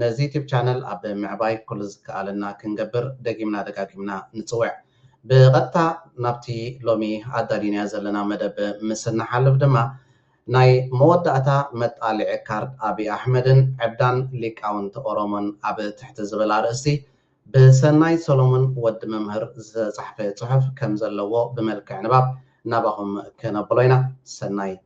ነዚ ዩቱብ ቻነል ኣብ ምዕባይ ኩሉ ዝከኣለና ክንገብር ደጊምና ደጋጊምና ንጽውዕ። ብቐጥታ ናብቲ ሎሚ ኣዳሊናዮ ዘለና መደብ ምስ እንሓልፍ ድማ፣ ናይ መወዳእታ መጣልዒ ካርድ ኣቢይ ኣሕመድን ዕብዳን ሊቃውንቲ ኦሮሞን ኣብ ትሕቲ ዝብል ኣርእስቲ ብሰናይ ሰሎሙን፣ ወዲ መምህር፣ ዝተጻሕፈ ጽሑፍ ከም ዘለዎ ብመልክዕ ንባብ ናባኹም ክነብሎ ኢና። ሰናይ።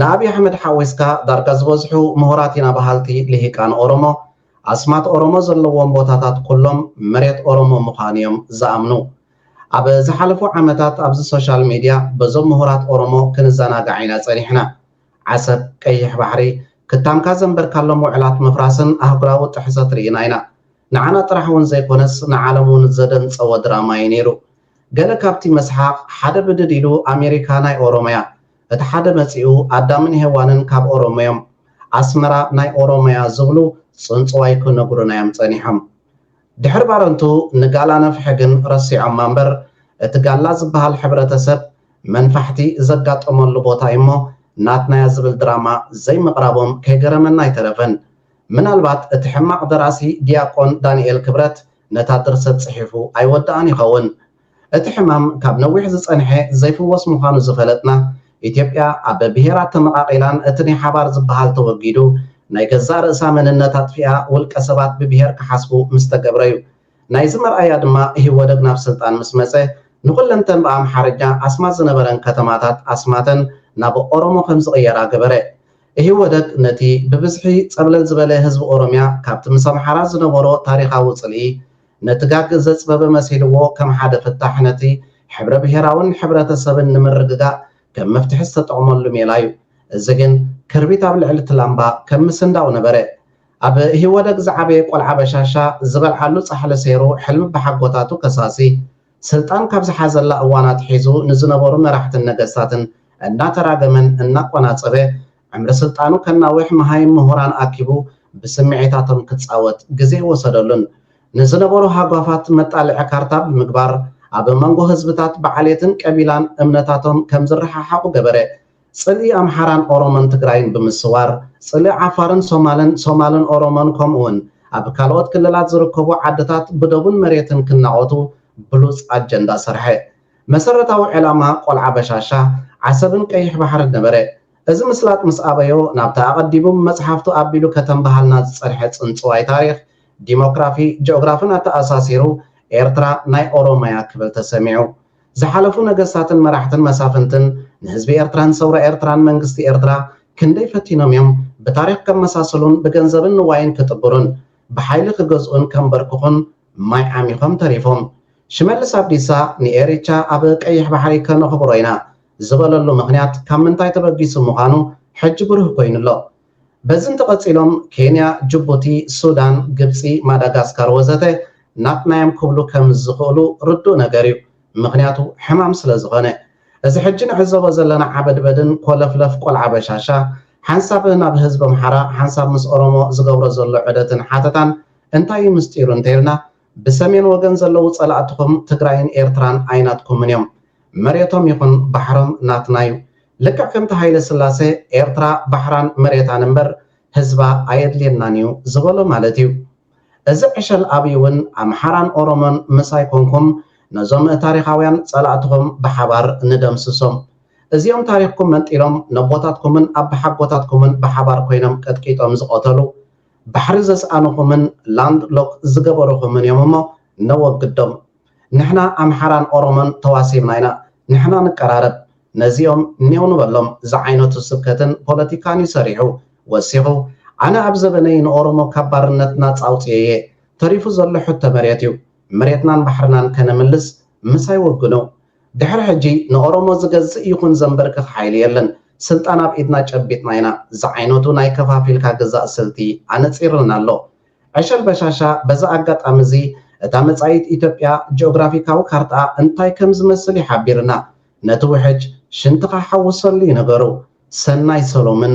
ንኣብይ ኣሕመድ ሓዊስካ ዳርጋ ዝበዝሑ ምሁራት ኢና በሃልቲ ልሂቃን ኦሮሞ ኣስማት ኦሮሞ ዘለዎም ቦታታት ኩሎም መሬት ኦሮሞ ምዃኑ እዮም ዝኣምኑ። ኣብ ዝሓለፉ ዓመታት ኣብዚ ሶሻል ሚድያ በዞም ምሁራት ኦሮሞ ክንዘናጋዕ ኢና ፀኒሕና። ዓሰብ፣ ቀይሕ ባሕሪ፣ ክታምካ ዘንበርካሎም ውዕላት ምፍራስን ኣህጉራዊ ጥሕሰት ርኢና ኢና። ንዓና ጥራሕ እውን ዘይኮነስ ንዓለም እውን ዘደንፀወ ድራማ እዩ ነይሩ። ገለ ካብቲ መስሓቕ ሓደ ብድድ ኢሉ ኣሜሪካ ናይ ኦሮሞ እያ፣ እቲ ሓደ መጺኡ ኣዳምን ሄዋንን ካብ ኦሮሞዮም ኣስመራ ናይ ኦሮሞያ ዝብሉ ጽንጽዋይ ክነግሩናዮም ጸኒሖም ድሕሪ ባረንቱ ንጋላ ነፍሒ ግን ረሲዖማ እምበር እቲ ጋላ ዝብሃል ሕብረተሰብ መንፋሕቲ ዘጋጠመሉ ቦታዩሞ ናትናያ ዝብል ድራማ ዘይምቅራቦም ከይገረመና ኣይተረፈን ምናልባት እቲ ሕማቅ ደራሲ ድያቆን ዳኒኤል ክብረት ነታ ድርሰት ጽሒፉ ኣይወደኣን ይኸውን እቲ ሕማም ካብ ነዊሕ ዝጸንሐ ዘይፍወስ ምዃኑ ዝፈለጥና፣ ኢትዮጵያ ኣብ ብሄራት ተመቓቒላን እቲ ናይ ሓባር ዝበሃል ተወጊዱ ናይ ገዛእ ርእሳ መንነት ኣጥፊኣ ውልቀ ሰባት ብብሄር ክሓስቡ ምስ ተገብረ'ዩ። ናይዚ መርኣያ ድማ ኢህወደግ ናብ ስልጣን ምስ መጸ ንኹለንተን ብኣምሓርኛ ኣስማት ዝነበረን ከተማታት ኣስማተን ናብ ኦሮሞ ከም ዝቕየራ ገበረ። ኢህወደግ ነቲ ብብዝሒ ጸብለል ዝበለ ህዝቢ ኦሮሚያ ካብቲ ምስ ኣምሓራ ዝነበሮ ታሪኻዊ ጽልኢ ነቲ ጋግ ዘጽበበ መሲልዎ ከም ሓደ ፍታሕ ነቲ ሕብረ ብሄራውን ሕብረተሰብን ንምርግጋእ ከም መፍትሒ ዝተጠቕመሉ ሜላ እዩ። እዚ ግን ክርቢት ኣብ ልዕሊ እቲ ላምባ ከም ምስንዳው ነበረ። ኣብ ኢህወደግ ዝዓበየ ቆልዓ በሻሻ ዝበልዓሉ ጻሕሊ ሰይሩ ሕልሚ ኣቦሓጎታቱ ከሳሲ ስልጣን ካብ ዝሓዘላ እዋን ኣትሒዙ ንዝነበሩ መራሕትን ነገስታትን እናተራገመን እናቆናጸበ ዕምሪ ስልጣኑ ከናውሕ መሃይም ምሁራን ኣኪቡ ብስምዒታቶም ክጻወት ግዜ ወሰደሉን ንዝነበሩ ሃጓፋት መጣልዒ ካርታ ብምግባር ኣብ መንጎ ህዝብታት ብዓሌትን ቀቢላን እምነታቶም ከም ዝረሓሓቑ ገበረ። ጽልኢ ኣምሓራን ኦሮሞን ትግራይን ብምስዋር ጽልኢ ዓፋርን ሶማልን ሶማልን ኦሮሞን ከምኡውን ኣብ ካልኦት ክልላት ዝርከቡ ዓድታት ብዶብን መሬትን ክናቖቱ ብሉጽ ኣጀንዳ ሰርሐ። መሰረታዊ ዕላማ ቆልዓ በሻሻ፣ ዓሰብን ቀይሕ ባሕርን ነበረ። እዚ ምስላጥ ምስ ኣበዮ፣ ናብቲ ኣቐዲሙ ብመጽሓፍቱ ኣቢሉ ከተንብሃልና ዝጸንሐ ጽንጽዋይ ታሪኽ፣ ዲሞክራፊ፣ ጂኦግራፍን ኣተኣሳሲሩ፣ ኤርትራ ናይ ኦሮሞ'ያ ክብል ተሰሚዑ። ዝሓለፉ ነገስታትን መራሕትን መሳፍንትን ንህዝቢ ኤርትራን ሰውራ ኤርትራን መንግስቲ ኤርትራ ክንደይ ፈቲኖም'ዮም ብታሪኽ ከመሳስሉን ብገንዘብን ንዋይን ክጥብሩን ብሓይሊ ክገዝኡን ከንበርክኹን ማይ ዓሚኾም ተሪፎም። ሽመልስ ኣብዲሳ ንኤሪቻ ኣብ ቀይሕ ባሕሪ ከነኽብሮ ኢና ዝበለሉ ምኽንያት ካብ ምንታይ ተበጊሱ ምዃኑ ሕጂ ብሩህ ኮይኑ ኣሎ። በዚ እንተቐጺሎም ኬንያ፣ ጅቡቲ፣ ሱዳን፣ ግብጺ፣ ማዳጋስካር ወዘተ ናትና'ዮም ክብሉ ከም ዝኽእሉ ርዱእ ነገር'ዩ። ምኽንያቱ ሕማም ስለ ዝኾነ። እዚ ሕጂ ንዕዘቦ ዘለና ዓበድበድን ኮለፍለፍ ቆልዓ በሻሻ ሓንሳብ ናብ ህዝቢ ኣምሓራ ሓንሳብ ምስ ኦሮሞ ዝገብሮ ዘሎ ዑደትን ሓተታን እንታይ እዩ ምስጢሩ እንተይልና ብሰሜን ወገን ዘለዉ ፀላእትኹም ትግራይን ኤርትራን ኣይናትኩምን እዮም። መሬቶም ይኹን ባሕሮም ናትና እዩ። ልክዕ ከምቲ ሃይለስላሰ ኤርትራ ባሕራን መሬታን እምበር ህዝባ ኣየድልየናን እዩ ዝበሎ ማለት እዩ። እዚ ዕሸል ኣብይ እውን ኣምሓራን ኦሮሞን ምሳይ ኮንኩም ነዞም ታሪኻውያን ፀላእትኹም ብሓባር ንደምስሶም። እዚኦም ታሪኽኩም መንጢሎም ነቦታትኩምን ኣባሓጎታትኩምን ብሓባር ኮይኖም ቀጥቂጦም ዝቐተሉ ባሕሪ ዘስኣኑኹምን ላንድ ሎክ ዝገበሩኹምን እዮም እሞ ነወግዶም ንሕና ኣምሓራን ኦሮሞን ተዋሲብና ኢና ንሕና ንቀራረብ ነዚኦም ኔው ንበሎም ዝዓይነቱ ስብከትን ፖለቲካን እዩ ሰሪሑ ወሲኹ ኣነ ኣብ ዘበነይ ንኦሮሞ ካብ ባርነት ናጻ ኣውጺኤየ ተሪፉ ዘሎ ሕቶ መሬት እዩ መሬትናን ባሕርናን ከነምልስ ምሳይ ወግኑ ድሕሪ ሕጂ ንኦሮሞ ዝገዝእ ይኹን ዘምበርክኽ ሓይሊ የለን ስልጣን ኣብ ኢድና ጨቢጥና ኢና ዝዓይነቱ ናይ ከፋፊልካ ግዛእ ስልቲ ኣነጺርልና ኣሎ ዕሸል በሻሻ በዚ ኣጋጣሚ እዚ እታ መጻኢት ኢትዮጵያ ጂኦግራፊካዊ ካርትኣ እንታይ ከም ዝመስል እዩ ሓቢርና ነቲ ውሕጅ ሽንትኻ ሓውሰሉ እዩ ነገሩ ሰናይ ሰሎምን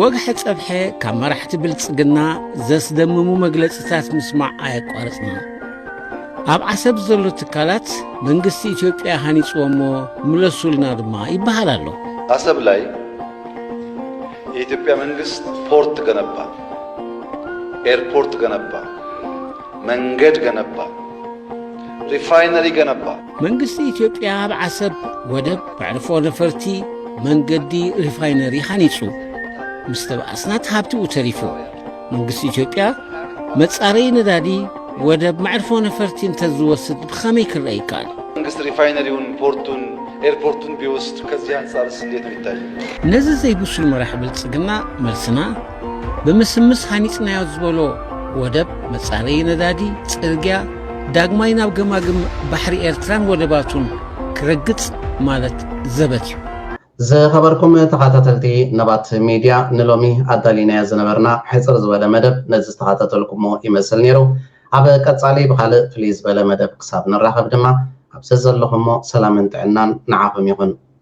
ወግሐ ጸብሐ ካብ መራሕቲ ብልጽግና ዘስደምሙ መግለጽታት ምስማዕ ኣየቋረጽናን። ኣብ ዓሰብ ዘሎ ትካላት መንግስቲ ኢትዮጵያ ሃኒጽዎሞ ምለሱልና ድማ ይበሃል ኣሎ። አሰብ ላይ የኢትዮጵያ መንግስት ፖርት ገነባ፣ ኤርፖርት ገነባ፣ መንገድ ገነባ፣ ሪፋይነሪ ገነባ። መንግስቲ ኢትዮጵያ ኣብ ዓሰብ ወደብ መዕርፎ ነፈርቲ መንገዲ ሪፋይነሪ ሃኒጹ ምስ ተበኣስናት ሃብቲኡ ተሪፉ መንግስቲ ኢትዮጵያ መጻረይ ነዳዲ ወደብ መዕርፎ ነፈርቲ እንተዝወስድ ብኸመይ ክረአ ይከኣል? መንግስት ሪፋይነሪውን ፖርቱን ኤርፖርቱን ቢወስድ ከዚህ አንጻርስ እንዴት ነው ይታየው? ነዚ ዘይብሱል መራሒ ብልጽግና መልስና ብምስምስ ሃኒጽናዮ ዝበሎ ወደብ መጻረዪ ነዳዲ፣ ጽርግያ፣ ዳግማይ ናብ ገማግም ባሕሪ ኤርትራን ወደባቱን ክረግጽ ማለት ዘበት እዩ። ዝኸበርኩም ተኻታተልቲ ነባት ሚድያ ንሎሚ ኣዳሊናዮ ዝነበርና ሕጽር ዝበለ መደብ ነዚ ዝተኻታተልኩሞ ይመስል ኔሩ። ኣብ ቀጻሊ ብኻልእ ፍልይ ዝበለ መደብ ክሳብ ንራኸብ ድማ ኣብ ዘዘለኹሞ ሰላምን ጥዕናን ንዓኹም ይኹን።